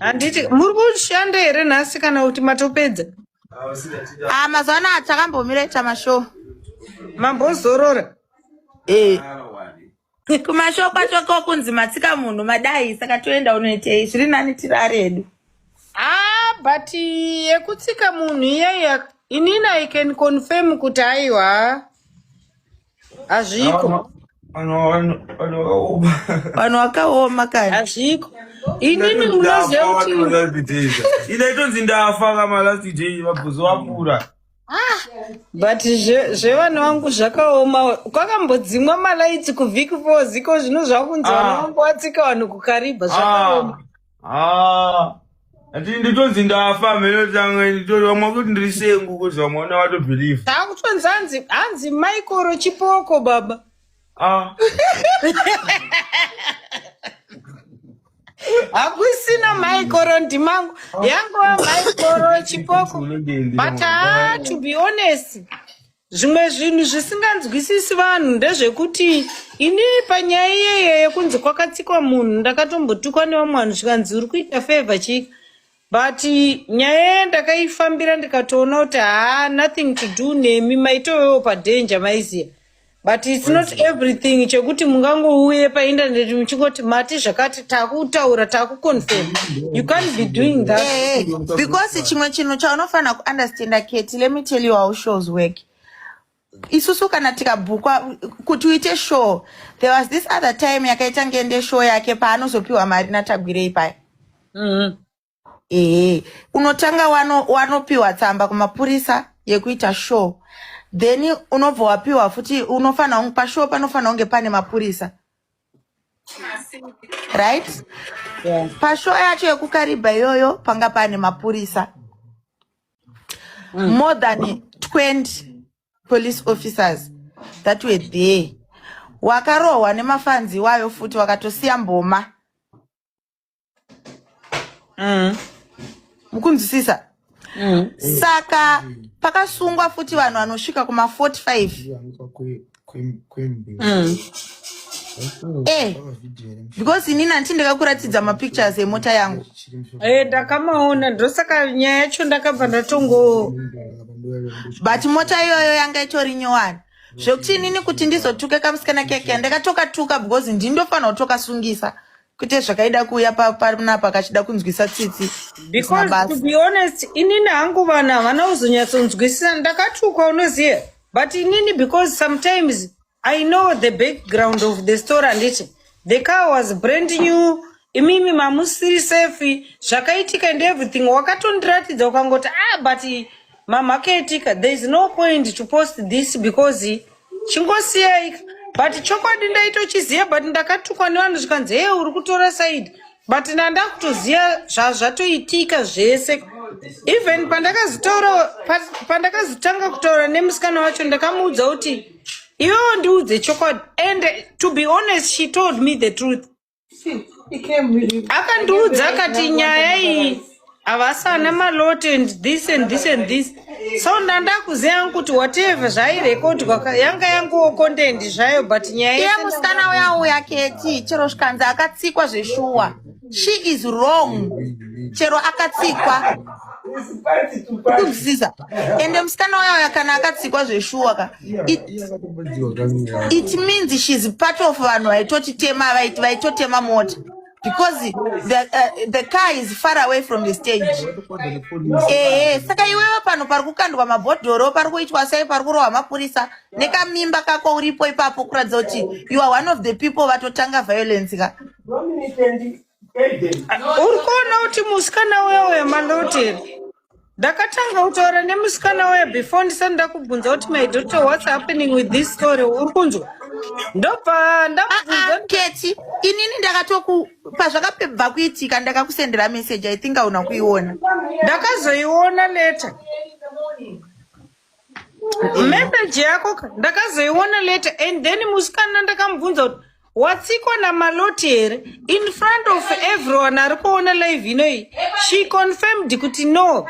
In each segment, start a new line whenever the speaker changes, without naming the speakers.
handiti muri kushanda here nhasi kana kuti matopedza ah,
mazuva anaya takambomira ita mashow mambozorora
eh.
kumashow kwacho ko kunzi matsika munhu madai saka toenda unoitei zviri nani tiri ari edu ah,
but yekutsika munhu iyeya inini i can confirm kuti aiwa hazviko
vanhu vakaoma kani hazviko
inini munozivakutinaitonzi
ndafa kama last day vabhuzo vapura ah,
but zvevana vangu zvakaoma kwakambodzimwa malaiti kuvhiki four ziko zvino zvakunzi vana ah. vangu vatsika vanhu kukaribha zvakaoma ah. haa
ati nditonzi ndafa mheno tange nditovamwa kuti ndiri sengu kozi vamwe vana vatobhiliva taakutonzi hanzi
hanzi maikoro chipoko baba ah hakusina maikoro ndimangu yangova maikoro chipoko but haa to be honest Zvimwe zvinhu zvisinganzwisisi vanhu ndezvekuti ini panyaya iyeye yekunzi kwakatsikwa munhu ndakatombotukwa nevamwe vanhu zvikanzi uri kuita favor chii but nyaya iye ndakaifambira ndikatoona kuti haa nothing to do nemi maitovewo padanger maiziva but its not everything chekuti mungangouye paindaneti muchingoti mati zvakati takutaura takuconfirm you can't be doing that eh, eh, because chimwe
chinhu chaunofanira kuunderstanda keti let me tell you how shows work isusu kana tikabhukwa kuti uite show there was this other time yakaita ngende show yake paanozopiwa mari natagwirei paya mm -hmm. ehe unotanga wano wanopiwa tsamba kumapurisa yekuita show then unobva wapiwa futi unofanira kunge pashow panofanira kunge pane mapurisa right Yeah.
pashow yacho
yekukaribha iyoyo panga pane mapurisa more than 20 police officers that were there wakarohwa nemafanzi iwayo futi wakatosiya mboma mm. mukunzwisisa mm. saka pakasungwa futi vanhu vanosvika kuma 45 mm. Eh, because ini nanti ndakakuratidza mapictures emota yangu eh, ndakamaona
ndosaka nyaya yacho ndakabva ndatongo
but mota iyoyo yanga itori nyowani zvekuti inini kuti ndizotuke kamusikana keke ndakatokatuka because ndindofanira kutokasungisa kuite zvakaida kuuya pa- panapa kachida kunzwisa tsitsi because to mabasa be
honest inini hangu vanhu havana kuzonyatsonzwisisa ndakatukwa unoziva but inini because sometimes i know the background of the story handiti the car was brand new imimi mamusiri safe zvakaitika and everything wakatondiratidza ukangoti ah but mamhakaitika there is no point to post this because chingosiyai but chokwadi ndaitochiziva but ndakatukwa nevanhu zvikanzi hee uri kutora saidi but nandakutoziva zvazvatoitika zvese even pandakazitaura pandakazitanga kutaura nemusikana wacho ndakamuudza kuti iwewo ndiudze chokwadi and to be honest she told me the truth akandiudza akati nyaya iyi havasana malot and this and this and this so ndandakuziva yangu kuti whatever zvairekodwa yanga yanguwo content zvayo but nyaya iye musikana uya
uya keti chero zvikanzi akatsikwa zveshuwa she is wrong chero akatsikwa kuziza ende musikana uya uya kana akatsikwa zveshuwa ka it means she's part of vanhu vaitotitema vaitotema mota because the, uh, the car is far away from the stage ehe eh, saka iwewe pano pari kukandwa mabhodhoro pari kuitwa sei pari kurohwa mapurisa nekamimba kako uripo ipapo kuratidza kuti you are one of the people vatotanga violence ka
uri kuona kuti musikana uyo wemaloteri ndakatanga kutaura nemusikana waya before ndisati ndakubvunza kuti my daughter what's happening with this story uri kunzwa ndobva Ah, ah, ndamubvunza keti
inini ndakatoku pazvakabva kuitika ndakakusendera message i think auna kuiona ndakazoiona
later message yako ka- ndakazoiona later and then musikana ndakamubvunza kuti watsikwa namaloti here in front of everyone ari kuona live inoyi she confirmed kuti no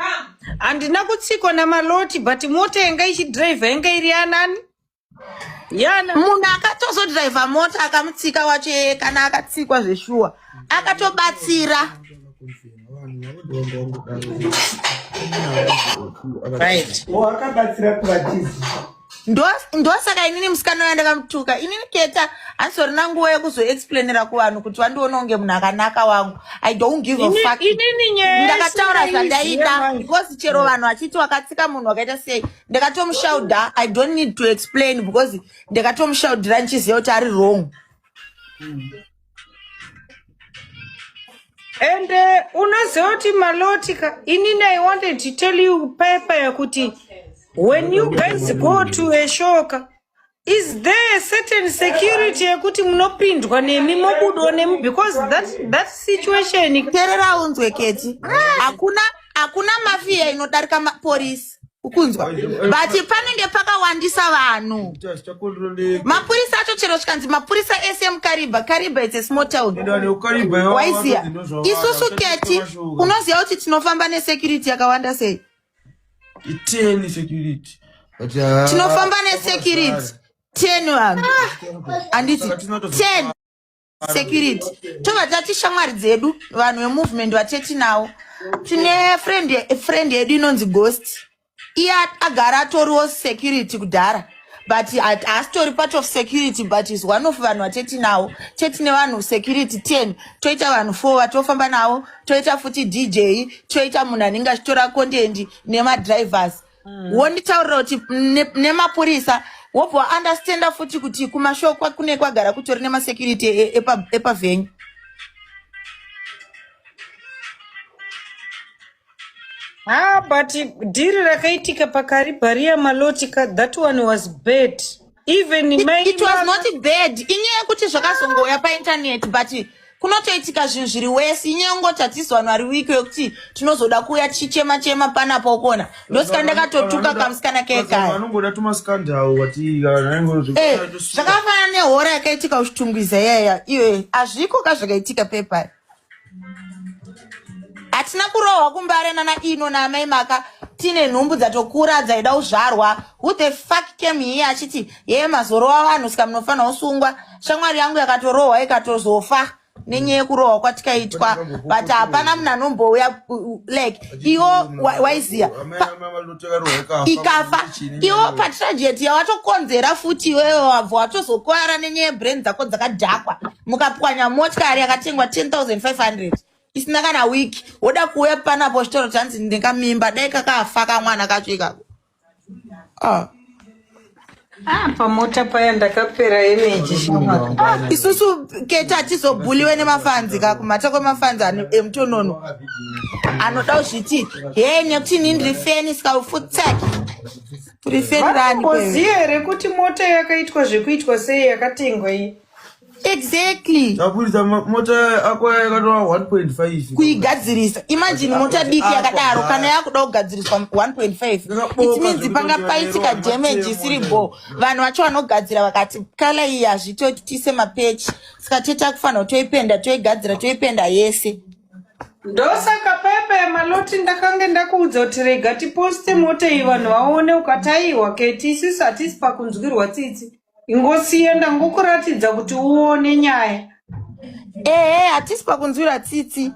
handina kutsikwa namaloti but mota yanga ichidriver yanga iri yanani yana munhu
akatozodriver mota akamutsika wacho yeye kana akatsikwa zveshuwa akatobatsira right
wakabatsira kuvatizi
ndosaka inini musikana uya ndakamutuka inini keta handisorina nguva yekuzoexplainira kuvanhu kuti vandiona kunge munhu akanaka wangu i don't give a fuck ndakataura zvandaida because chero vanhu vachiti wakatsika munhu wakaita sei ndakatomushaudha i don't need to explain because ndakatomushaudhira ndichiziva kuti ari wrong and
uh, unoziva kuti maloti ka inini i wanted to tell you payapaya kuti when you guys go to a show ka is there a certain security yekuti munopindwa nemi mobudwa nemi because that, that situation terera unzwe
keti hakuna hakuna mafiya inodarika maporisi ukunzwa but panenge pakawandisa vanhu mapurisa acho chero zvikanzi mapurisa ese emukariba kariba its a small town waiziya isusu keti unoziva kuti tinofamba nesecurity yakawanda sei iteni
security But, ah, tinofamba
nesecurity ten vanhu handiti ten security tobva tati shamwari dzedu vanhu vemovement vateti nawo tine friend friend yedu inonzi ghost iye agara atoriwo security kudhara but haasitori part of security but is one of vanhu vatetinawo tetine vanhu security ten toita vanhu four vatofamba navo toita futi dj toita munhu anenge achitora kondendi nemadrivers mm. wonditaurira kuti nemapurisa ne wobva waunderstanda futi kuti kumashow kune kwagara kutori nemasecurity e, e, epavenyu
Ah, but dhiri rakaitika pakariba riya maloti ka that one was bad even mai it was not
bad inyaya yekuti zvakazongouya paintaneti but kunotoitika zvinhu zviri wesi inyaya yongoti hatisi vanhu vari wiki yekuti tinozoda kuuya tichichema chema panapo ukona ndosika ndakatotuka kamusikana kekaya
eh,
zvakafanana nehora yakaitika kuchitungwiza yaya iwe hazviko ka zvakaitika pepari hatina kurohwa kumbare nana ino naamai maka tine nhumbu dzatokura dzaida kuzvarwa who the fuck came here achiti yeye mazorowa vanhu sika munofanira kusungwa shamwari yangu yakatorohwa ikatozofa nenyaya yekurohwa kwatikaitwa but hapana munhu anombouya like iwo waiziva ikafa iwo patragedy yawatokonzera futi iwewe wabva watozokwara nenyaya yebrain dzako dzakadhakwa mukapwanya motikari yakatengwa 10500 isina kana week woda kuuya panapo chitoro chanzi ndingamimba dai kakafa kamwana kacho ikako ah. Ah,
pamota paya ndakapera emeji ah, isusu
kete hatizobhuliwe nemafanzi ka kumhata kwemafanzi emutonono anoda kuzviti he nekuti ini ndiri feni sikaufutsaki tiri feni rani koziye rekuti mota
yakaitwa zvekuitwa sei yakatengwa iyi exactly
taburitsa
mota ako yakatova 1.5 kuigadzirisa
imagine mota diki yakadaro kana yakuda kugadziriswa 1.5 it means panga paitika damage isiri bo vanhu vacho vanogadzira vakati kala iyi hazvitoitise mapechi saka toita kufanira toipenda toigadzira toipenda yese ndosaka
pepa yemaloti ndakange ndakuudza kuti rega tiposte mota iyi vanhu vaone ukataiwa keti isisu hatisi pakunzwirwa tsitsi ingosiye ndangokuratidza kuti uone nyaya ehe
hatisi pakunzwira tsitsi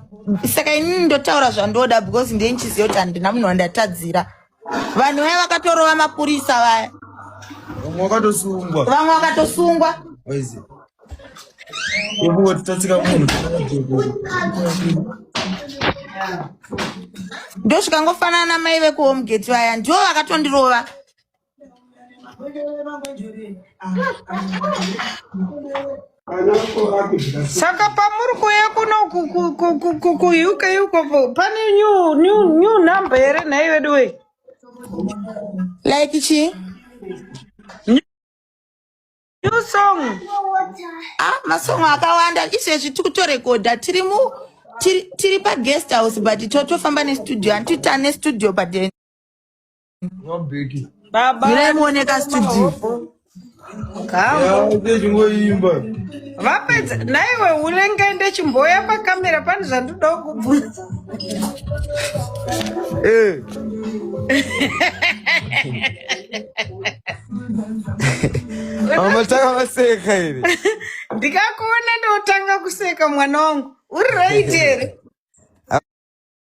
saka inini ndotaura zvandoda because ndini chiziva kuti handina munhu wandatadzira vanhu vaya vakatorova mapurisa vaya vamwe vakatosungwa vamwe vakatosungwa ndosvikangofanana mai vekuhomegate vaya ndivo vakatondirova
saka pamuri kuuya kuno kuuk iko pane new number here nhai vedu wei like
chii
new song ah
masong akawanda izvezvi tiri kutorekodha tiri mu tiri paguest house but totofamba nestudio handiti tane studio but
Baba.
Mirai muoneka studio. Kambo.
Vapedza naiwe unenge ndechimboya pakamera pane zvandoda kubvunza.
Eh. Amataka maseka iri.
Ndikakuona ndotanga kuseka mwana wangu. Uri right here.